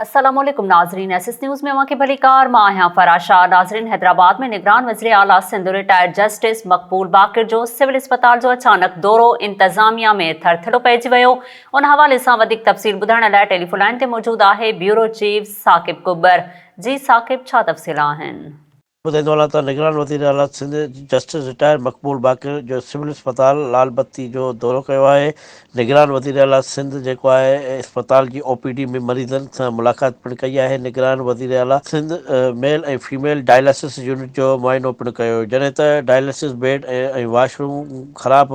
السلام عليڪم ناظرين ايس ايس نيوز ۾ اوهان کي ڀليڪار مان آهيان فرح شاهه ناظرين حيدرآباد ۾ نگران وزير اعليٰ سنڌ رٽائرڊ جسٽس مقبول باقر جو سول اسپتال جو اچانڪ دورو انتظاميا ۾ ٿر ٿلو پئجي ويو ان حوالي سان وڌيڪ تفصيل ٻڌائڻ لاء ٽيليفون لائين تي موجود آهي بيورو چيف ثاقب ڪٻر جي ثاقب ڇا تفصيل آهن. ٻڌائيندو هلان ته نگران وزير اعليٰ سنڌ جسٽس رٽائرڊ مقبول باقر جو سول اسپتال لال بتي جو دورو ڪيو آهي، نگران وزير اعليٰ سنڌ جيڪو آهي اسپتال جي او پي ڊي ۾ مريضن سان ملاقات پڻ ڪئي آهي، نگران وزير اعليٰ Sindh male ۽ female dialysis unit جو معائنو پڻ ڪيو جڏهن ته ڊائلسس بيڊ ۽ واش روم خراب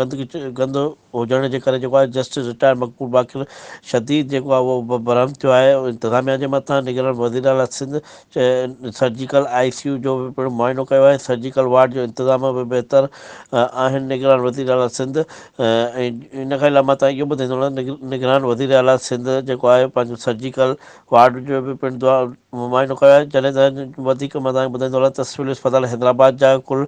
گند هجڻ جي ڪري جيڪو آهي جسٽس رٽائرڊ مقبول باقر شديد جيڪو آهي اهو برهم ٿيو آهي انتظاميا جي مٿان نگران وزير اعليٰ Sindh surgical I C U جو به پڻ معائنو ڪيو آهي، سرجيڪل وارڊ جو انتظام به بهتر آهن، نگران وزيراعليٰ سنڌ ۽ ان کان علاوه مان تهان اهو ٻڌائيندو هلان ته نگران وزيراعليٰ سنڌ جيڪو آهي پنهنجو سرجيڪل وارڊ جو به پڻ معائنو ڪيو آهي، جڏهن ته وڌيڪ مان تهان کي ٻڌائيندو هلان ته سول اسپتال حيدرآباد جا ڪل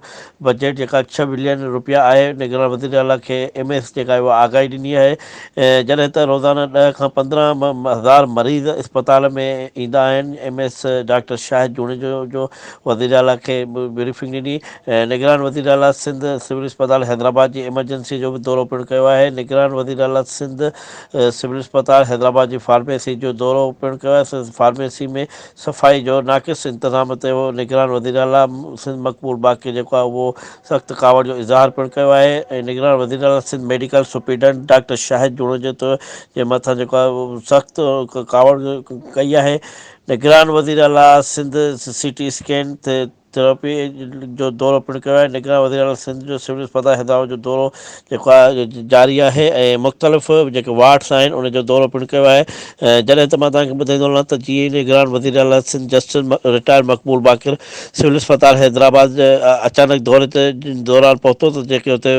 بجيٽ جيڪا ڇهه بلين روپيا آهي، نگران وزيراعليٰ کي ايم اي ايس جيڪا آهي اها آگاهي ڏني آهي، جڏهن ته روزانه ڏهه کان پندرهن هزار مريض اسپتال ۾ ايندا آهن، M S doctor Shahid Junejo جو وزيراعليٰ کي بريفنگ ڏني، نگران وزيراعليٰ سنڌ سول اسپتال حيدرآباد جي ايمرجنسي جو به دورو پڻ ڪيو آهي، نگران وزيراعليٰ سنڌ سول اسپتال حيدرآباد جي فارميسي جو دورو پڻ ڪيو آهي، فارميسي ۾ صفائي جو ناقص انتظام تي نگران وزيراعليٰ سنڌ مقبول باقر جيڪو آهي اهو سخت ڪاوڙ جو اظهار پڻ ڪيو آهي ۽ نگران وزيراعليٰ Sindh medical superintendent doctor Shahid Junejo تو جي مٿان جيڪو آهي اهو سخت ڪاوڙ ڪئي آهي نگران وزيراعليٰ Sindh C T scan therapy جو دورو پڻ ڪيو آهي نگران وزيراعليٰ سنڌ جو سول اسپتال حيدرآباد جو دورو جيڪا جاري آهي ۽ مختلف جيڪي وارڊس آهن ان جو دورو پڻ ڪيو آهي جڏهن ته مان توهان کي ٻڌائيندو هلان ته جيئي نگران وزير اعليٰ سنڌ جسٽس رٽائرڊ مقبول باقر سول اسپتال حيدرآباد جي اچانڪ دوري تي دوران پهتو ته جيڪي اتي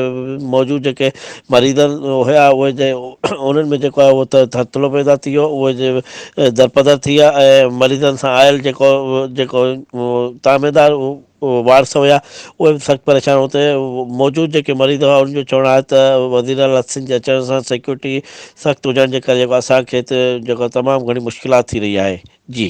موجود جيڪي مريضن هيا اهي جي انهن ۾ جيڪو آهي اهو ترتلو پيدا ٿي ويو اهي جي درپدر ٿي ويا ۽ مريضن سان آيل جيڪو جيڪو تعميدار اهي وارث هيا اهي به سخت پريشان هو ته موجود جيڪي مريض هئا انهن جو چوڻ آهي ته وزيراعليٰ حسين جي اچڻ سان سيڪيورٽي سخت هجڻ جي ڪري جيڪو اسان کي ته جيڪو تمام گهڻي مشڪلات ٿي رهي آهي جي